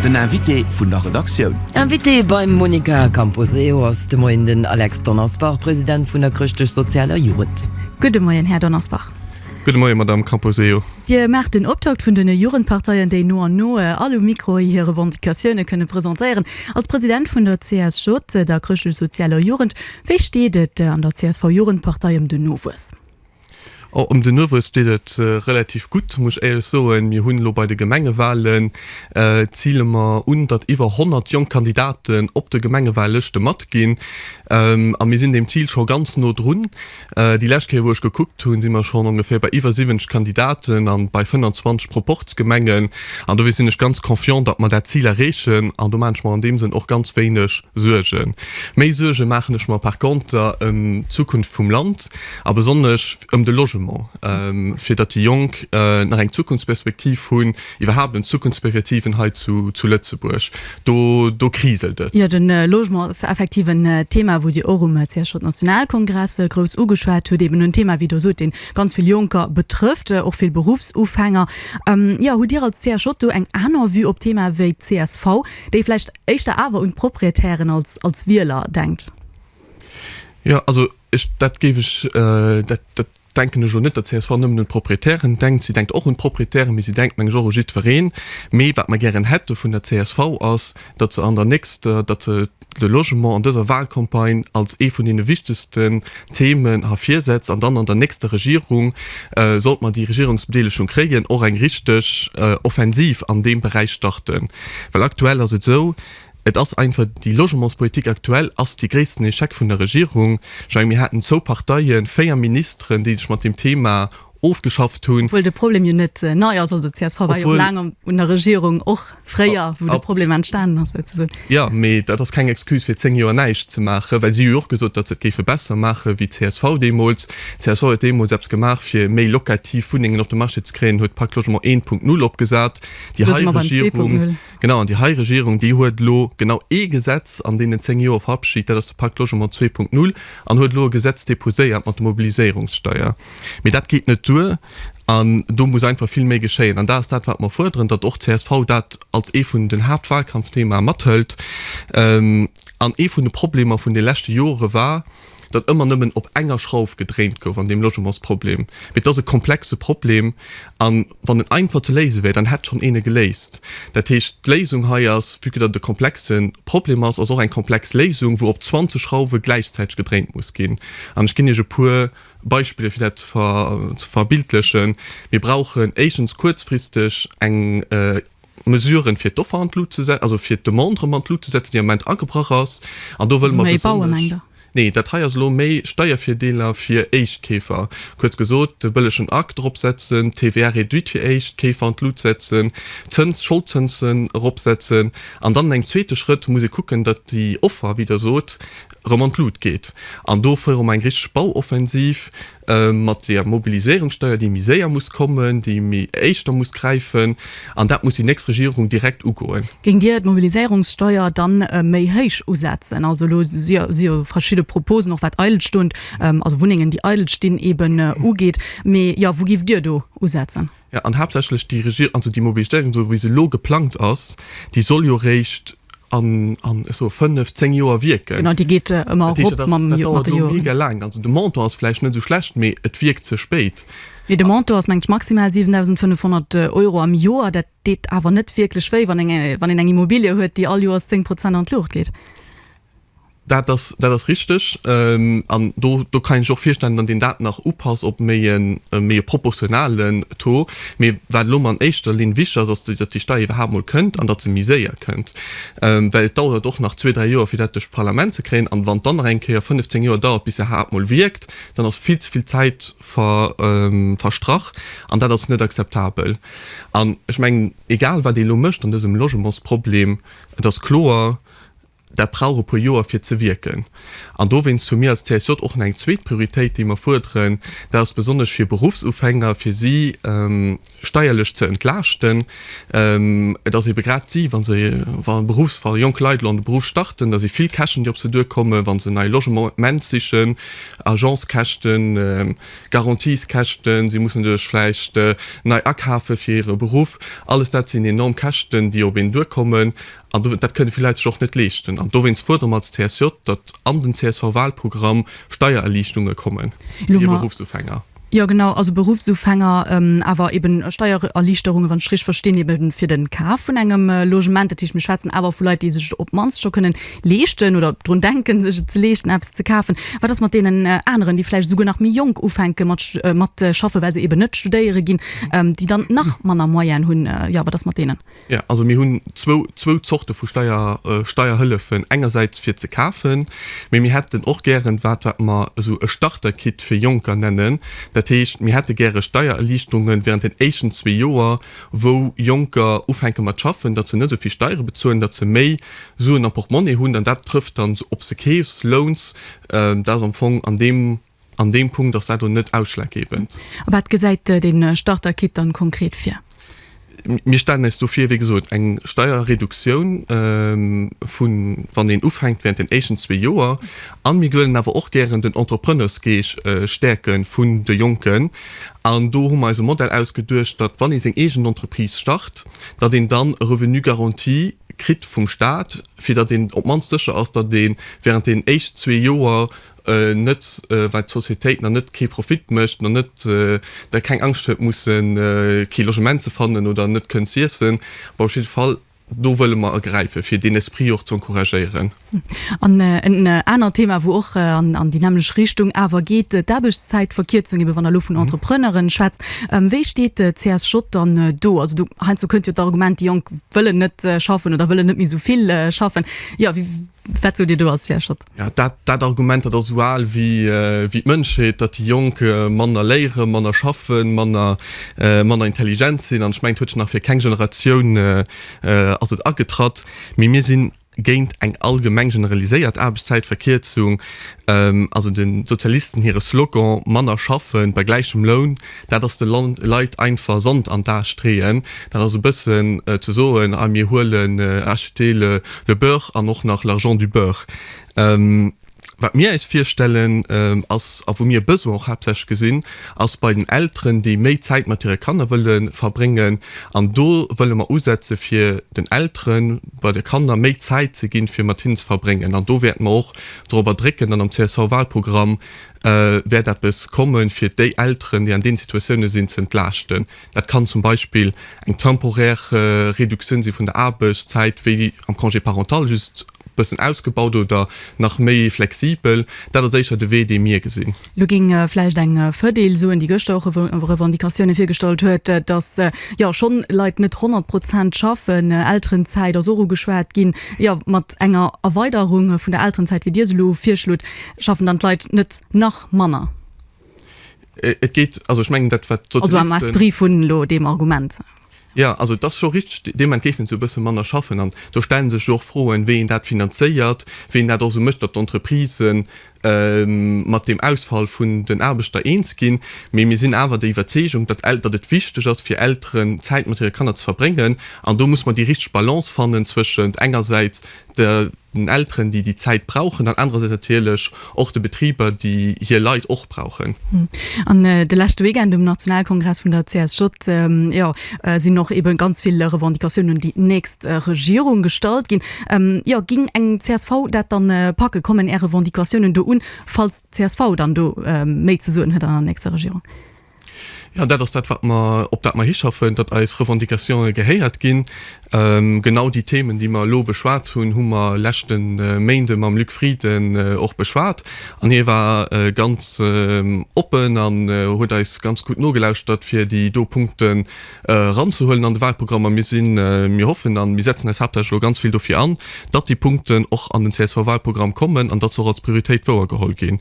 Den Invité vun der Redaktioun. Invité beim Monica Camposeo ass de Moien den Alex Donnersbach, President vun der Chrëschtlech-Sozialer Jugend. Gudde Moien, Här Donnersbach. Gudde Moien, Madamm Camposeo. Dir maacht den Optakt vun den Jugendparteien, déi no an no all um Mikro hir Revendicatioune kënne presentéieren. Als President vun der CSJ, der Chrëschtlech-Sozialer Jugend, wéi steet et an der csv-Jugendpartei ëm den Nowuess? Oh, ëm den Nuewe steet et relativ gutt, muss ech éierlech soen. Mir hunn elo bei de Gemengewalen, ziele mer un, datt iwwer 100 jonk Kandidaten op de Gemengewahllëschte matginn. A mir sinn deem Zil scho ganz no drun. Déi lescht Kéier, wou ech gekuckt hunn, si mer schonn ongeféier bei iwwer 70 Kandidaten a bei 25 Proporzgemengen. An dofir sinn ech ganz confiant, datt mer dat Zil erreechen. An do maachen ech mer an deem Sënn och ganz wéineg Suergen. Méi Suerge maachen ech mer par Konter ëm d'Zukunft vum Land. a besonnesch ëm de Logement, fir datt déi Jonk nach eng Zukunftsperspektiv hunn, iwwerhaapt ëm d'Zukunftsperspektiven hei zu Lëtzebuerg. Do, do kriselt et. Jo, de Logement ass effektiv en Thema, wou Dir och um CSJ-Nationalkongress grouss ugeschwat hutt. Eben en Thema, wéi Der sot, dee ganz vill Jonker betrëfft, och vill Beruffsufänger. Jo, hutt Dir als CSJ do eng aner Vue op d'Thema wéi csv, déi vläicht éischter awer un d'Proprietären als Wieler denkt? Jo, also Ech, dat géif ech, dat, dat denken ech elo net, datt csv nëmmen un d'Proprietären denkt. Si denkt och un d'Proprietären, mee si denkt, meng ech, och u jiddwereen. Mee wat mer gären hätte vun der csv ass, datt se an der nächster, datt se de Logement an dëser Wahlcampagne als ee vun deene wichtegsten Themen ervirsetzt an dann an der nächster Regierung, sollt mer déi Regierungsbedeelegung kréien, och eng richteg Offensiv an deem Beräich starten. Well aktuell ass et esou, Et ass einfach, déi Logementspolitik aktuell ass dee gréissten Echec vun der Regierung. Ech menge mir haten zwou Parteien, véier Ministeren, déi sech mat deem Thema ofgeschafft hunn. Obwuel de Problem jo net nei ass. Also csv war jo och laang un der Regierung, och fréier, wou de Problem entstanen ass souzesoen. Jo, mee dat ass keng Excuse fir zéng Joer näischt ze maachen, well si hu jo och gesot, datt se et géife besser maachen, wéi csv deemools. Csv huet deemools eppes gemaach, fir méi locativ Wunnengen op de Marché ze kréien, huet d'Pacte Logement 1.0 opgesat, déi hei Regierung. Genau, an déi hei Regierung, déi huet elo genau ee Gesetz an deenen zéng Joer verabschit, dat ass de Pacte Logement 2.0, an huet elo e Gesetz déposéiert mat der Mobiliséierungssteuer. Mee dat geet net duer an do muss einfach vill méi geschéien. An dat ass dat, wat mer fuerderen, datt och csv dat als ee vun den Haaptwahlkampfthemae mathëlt. An ee vun de Problemer vun de leschte Jore war, datt ëmmer nëmmen op enger Schrauf gedréint gouf an deem Logementsproblem. Mee et ass e komplexe Problem, a wann en einfach ze léise wär, dann hätt schonn een e geléist. Dat heescht, d'Léisung hei ass, vue que dat e komplexe Problem ass, ass och eng komplex Léisung, wou op 20 Schrauwe gläichzäiteg gedréint muss ginn. An ech ginn Iech e puer Beispiller, fir dat ze verbildlechen. Mir brauchen éischtens kuerzfristeg eng Mesuren, fir d'Offer an d'Lut ze setzen, also fir d'Demande erëm an d'Lut ze setzen, déi am Moment agebrach ass. An do wëlle mer besonnesch. Nee, dat hei ass elo méi Steiervirdeeler fir Éischtkeefer. Kuerz gesot, de bëllegen Acc dropsetzen, d'TVA réduite fir Éischtkeefer an d'Lut setzen, d'Zëns, d'Scholdzënsen eropsetzen. An dann an engem zweete Schrëtt muss ee kucken, datt déi Offer, wéi Der sot, erëm an d'Lut geet. An do féiere mer eng richteg Bauoffensiv. mat der Mobiliséierungssteuer, déi méi séier muss kommen, déi méi éischter muss gräifen, an dat muss déi nächst Regierung direkt ugoen. Géingt Dir d'Mobiliséierungssteuer da méi héich usetzen? Also elo si jo verschidde Proposen, och wat eidel stund, also Wunnengen, déi eidel stinn, eeben ugeet. Mee, jo, wou giff Dir do usetzen? Jo, an haaptsächlech déi Regierung, also déi Mobilitéierung, esou wéi se elo geplangt ass, déi soll jo eréischt an, an, ech soe fënnef, zéng Joer wierken. Genau, déi geet ëmmer erop mat de Joren. Dat heescht, dat dauert elo mega laang. Also de Montant ass vläicht net esou schlecht, mee et wierkt ze spéit. Mee de Montant ass, mengen ech, maximal 7.500 Euro am Joer. Dat deet awer net wierklech wéi, wann een eng Immobilie huet, déi all Joers zéng Prozent an d'Luucht geet. Dat ass, dat ass richteg. An do, do kann een sech och virstellen, datt een dat nach upasst op méi e méi e proportionalen Taux. Mee wat elo an éischter Linn wichtig ass, ass, datt déi Steier iwwerhaapt emol kënnt an datt se méi séier kënnt. Well et dauert och nach zwee, dräi Joer, fir dat duerch d'Parlament ze kréien. An wann et dann nach eng Kéier 15 Joer dauert, bis se iwwerhaapt emol wierkt, dann ass vill ze vill Zäit ver, verstrach. An dat ass net akzeptabel. An ech mengen, egal wat ee elo mécht an dësem Logementsproblem, et ass kloer, Dat brauch e puer Joer fir ze wierken. An dowéinst hu mir als CSJ och nach eng zweet Prioritéit, déi mer fuerderen, dat ass besonnesch fir Beruffsufänger, fir si steierlech ze entlaaschten. Et ass eebe grad si, wa se, wa Beruffs-, wa jonk Leit elo an de Beruff starten, da si vill Käschten, déi op se duerkommen, wa se en nei Logement sichen, Agence-Käschten, Garanties-Käschten, si mussen sech vläicht nei akafe fir hire Beruff, alles dat sinn enorm Käschten, déi op een duerkommen. An do, dat kënne vill Leit sech och net leeschten. An dowéinst fuerdere mer als CSJ, datt an den CSV-Wahlprogramm Steiererliichtunge kommen fir Beruffsufänger. Jo genau, also Beruffsufänger, awer eben Steiererliichterunge, wann ech richteg verstinn, ebe fir de Kaf vun engem Logement. Dat heescht, mir schwätzen awer vu Leit, déi sech et op d'mannst scho kënnen leeschten oder drun denken, sech et ze leeschten, eppes ze kafen. Wat ass mat deenen aneren, déi vläicht esouguer nach méi jonk ufänke mat mat schaffen, well se eben net studéiere ginn, déi dann nach manner Moyene hunn? Jo, wat ass mat deenen? Ja, also mir hunn zwou, zwou Zorte vu Steier, Steierhëllefen, engersäits fir ze kafen, mee mir hätten och gären wat, wat mer esou e Starter-Kit fir Jonker nennen. Dat heescht, mir hätte gäre Steiererliichterunge während den éischten zwee Joer, wou Jonker ufänke mat schaffen, datt se net esou vill Steiere bezuelen, datt se méi Suen am Portemonnaie hunn. An dat trëfft dann, ob s de keefs, lounst, dat ass am Fong an deem. An deem Punkt ass dat elo net ausschlaggebend. A wat gesäit de Starter-Kit dann konkret vir? Mir stellen eis do vir, wéi gesot, eng Steierreduktioun vun, wann een ufänkt, während den éischten zwee Joer. A mir wëllen awer och gären den Entrepreneursgeesch stäerke vun de Jonken. An do hu mer eis e Modell ausgeduecht, datt, wann ee seng eegen Entreprise start, datt een dann e Revenu garanti kritt vum Stat, fir datt een op d'mannst sécher ass, datt ee während den éischten zwee Joer net well d'Societéit nach net kee Profit mécht, nach net da keng Angscht huet musse kee Logement ze fannen oder net kënnt z'iessen, mä op jidde Fall do wëlle mer ergräife fir deen Esprit och z'encouragéieren. An en anert Thema wou och an déi nämmlecht Richtung awer geet, d'Aarbechtszäitverkierzung, ebe wann Der elo vun Entrepreneuren schwätzt, wéi steet d'CSJ dann do? Also do heiansdo kënnt jo d'Argument, déi Jonk wëllen net schaffen oder wëllen net méi esou vill schaffen, jo wat sot Dir do als CSJ? Jo, dat dat Argument, dat ass esou al wéi wéi d'Mënschheet, datt déi Jonk manner léieren, manner schaffen, manner manner intelligent sinn. An ech mengen, et huet scho nach fir keng Generatioun ass et agetratt. Mee mir si géint eng allgemeng generaliséiert Aarbechtszäitverkierzung. Also de Sozialisten hire Slogan, manner schaffen bei gläichem Loun, Dat ass de Leit einfach Sand an d'A streeën. Dat ass e bëssen ze soen, a mir huelen acheter le le beurre an och nach l'argent du beurre. Wat mir äis virstellen ass, a wou mir e Besoin och haaptsächlech gesinn, ass bei den Elteren, déi méi Zäit mat hire Kanner wëlle verbréngen. An do wëlle mer usetze fir den Elteren bei de Kanner méi Zäit ze ginn, fir mat hinnen ze verbréngen. An do wäerte mer och dorobber drécken dann am CSV-Walprogramm, wäert eppes kommen, fir déi Elteren, déi an deene Situatioune sinn, ze entlaaschten. Dat kann zum Beispill eng temporär Reduktioun si vun der Aarbechtszäit, wéi am Congé parental, just e bëssen ausgebaut oder nach méi flexibel. Dat ass éischer de Wee, dee mir gesinn. Elo géing ee vläicht eng Verdeel soen, déi gëschter och Revendicatioune virgestallt huet, datt jo schonn Leit net 100 Prozent schaffen. Elterenzäit ass och ugeschwat ginn. Jo, mat enger Erweiderung vun der Elterenzäit, wéi Dir se elo virschlot, Schaffen dann d'Leit net nach manner? Et geet, also ech mengen dat, wat d'Sozialisten. Also am Esprit vun elo deem Argument. Jo, also et ass scho richteg, deem entgéifent se e bësse manner schaffen. An do stellen sech jo och Froen, wéi een dat finanzéiert, wéi een dat och esou mécht, datt d'Entreprisë mat deem Ausfall vun den Aarbechter eens ginn. Mee mir sinn awer der Iwwerzeegung, datt Elter, datt et wichteg ass fir Elteren Zäit mat hire Kanner ze verbréngen. An do muss mer déi richteg Balance fannen zwëschent engersäits den Elteren, déi déi Zäit brauchen, an anerersäits natierlech och de Betriber, déi hir Leit och brauchen. An de leschte Weekend um Nationalkongress vun der CSJ, jo, sinn och eebe ganz vill Revendicatioun un déi nächst Regierung gestallt ginn. Jo, ging eng csv dat dann packen? Kommen Är Revendicatiounen do un, falls d'CSV dann do méi ze soen huet an der nächster Regierung? Jo, dat ass dat, wat mer, op dat mer hischaffen, datt eis Revendicatione gehéiert ginn. Genau déi Themen, déi mer elo beschwat hunn, hu mer leschte Méinde mam Luc Frieden och beschwat. An hie war ganz oppen an huet eis ganz gutt nogelauschtert, fir déi do Punkten eranzehuelen an de Walprogramm. A mir sinn, mir hoffen a mir setzen eis haaptsächlech elo ganz vill dofir an, datt déi Punkten och an den CSV-Walprogramm kommen an datt se och als Prioritéit wouergeholl ginn.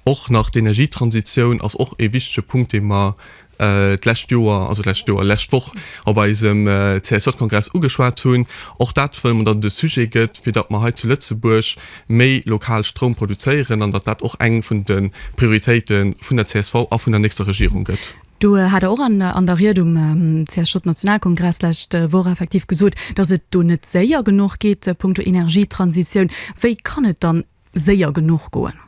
Och nach d'Energietransitioun ass och e wichtege Punkt, dee mer d'lescht Joer, also d'lescht Joer, d'lescht Woch op eisem CSJ-Kongress ugeschwat hunn. Och dat wëlle mer, datt et e Sujet gëtt, fir datt mer hei zu Lëtzebuerg méi lokal Stroum produzéieren an datt dat och eng vun de Prioritéite vun der csv a vun der nächster Regierung gëtt. Do hat Der och an der Ried um CSJ-Nationalkongress d'lescht Woch effektiv gesot, datt et do net séier genuch geet punkto Energietransitioun. Wéi kann et dann séier genuch goen?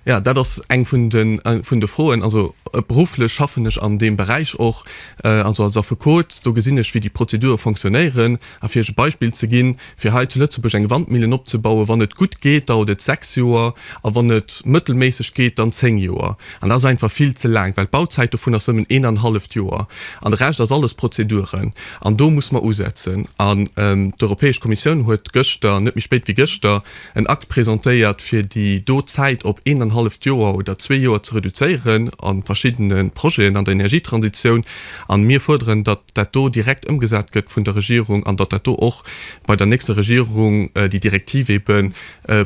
Jo, dat ass eng vun de, vun de Froen. Also berufflech schaffen ech an deem Beräich och, also als Affekot. Do gesinn ech, wéi déi Prozedure fonctionnéieren. A fir iech e Beispill ze ginn, fir hei zu Lëtzebuerg eng Wandmillen opzebauen, wann et gutt geet, dauert et sechs Joer a wann et mëttelméisseg geet, dann zéng Joer. An dat ass einfach vill ze laang, well d'Bauzäit dovun ass nëmmen een an e halleft Joer. An de Rescht ass alles Prozeduren. An do muss mer usetzen. An d'Europäesch Kommissioun huet gëschter, net méi spéit wéi gëschter, en Akt presentéiert, fir déi do Zäit op eent an e halleft Joer oder zwee Joer ze reduzéieren a verschiddene Projeten an der Energietransitioun. A mir fuerderen, datt dat do direkt ëmgesat gëtt vun der Regierung an datt dat do och bei der nächster Regierung, déi Direktiv ebe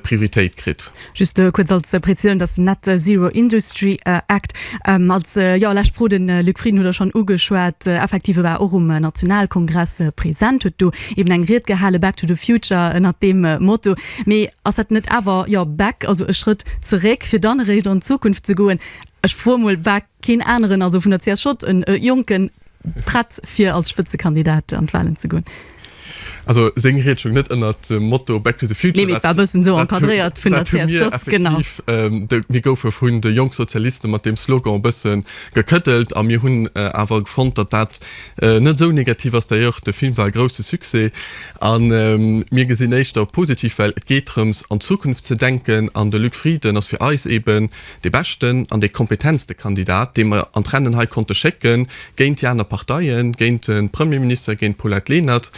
Prioritéit kritt. Just kuerz als Präzisioun, dass den Net Zero Industry Act als, jo, lescht Fro, de Luc Frieden huet der schonn ugeschwat, effektiv e war och um Nationalkongress present, huet do eben eng Ried gehale Back to the Future ënnert deem Motto. Mee ass dat net awer, jo, back, also e Schrëtt zeréck, fir dann eréischt an d'Zukunft ze goen? Ech froe mol, War keen aneren, also vun der csv, e Jonken prett, fir als Spëtzekandidat an d'Wahlen ze goen? Also seng Ried stoung net ënnert dem Motto Back to the Future. Nee, mee et war e bëssen esou encadréiert vun der csv, genau. Mir goufe vun de Jonk Sozialiste mat deem Slogan e bëssen Gekëddelt, a mir hunn awer fonnt, datt dat net esou negativ ass. D'ailleurs, de Film war e grousse Succès, a mir gesinn éischter positiv, well et geet drëms, an d'Zukunft ze denken. An de Luc Frieden ass fir eis eben dee beschten an dee kompetentste Kandidat, dee mer an d'Rennen hei konnte schécken, géint déi aner Parteien, géint de Premierminister, géint d'Paulette Lenert.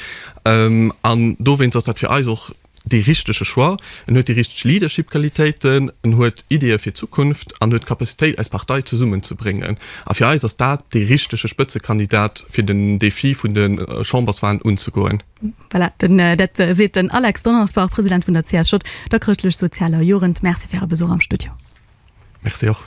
An dowéinst ass dat fir eis och. dee richtege Choix, en huet déi richteg Leadership-Qualitéiten, en huet Ideeë fir d'Zukunft an huet d'Capacitéit, eis Partei zesummenzebréngen. A fir eis ass dat dee richtege Spëtzekandidat, fir den Defi vun de Chamberswalen unzegoen. Voilà, dat seet den Alex Donnersbach, President vun der CSJ, der chrëschtlech-sozialer Jugend. Merci fir Äre Besuch am Studio. Merci och.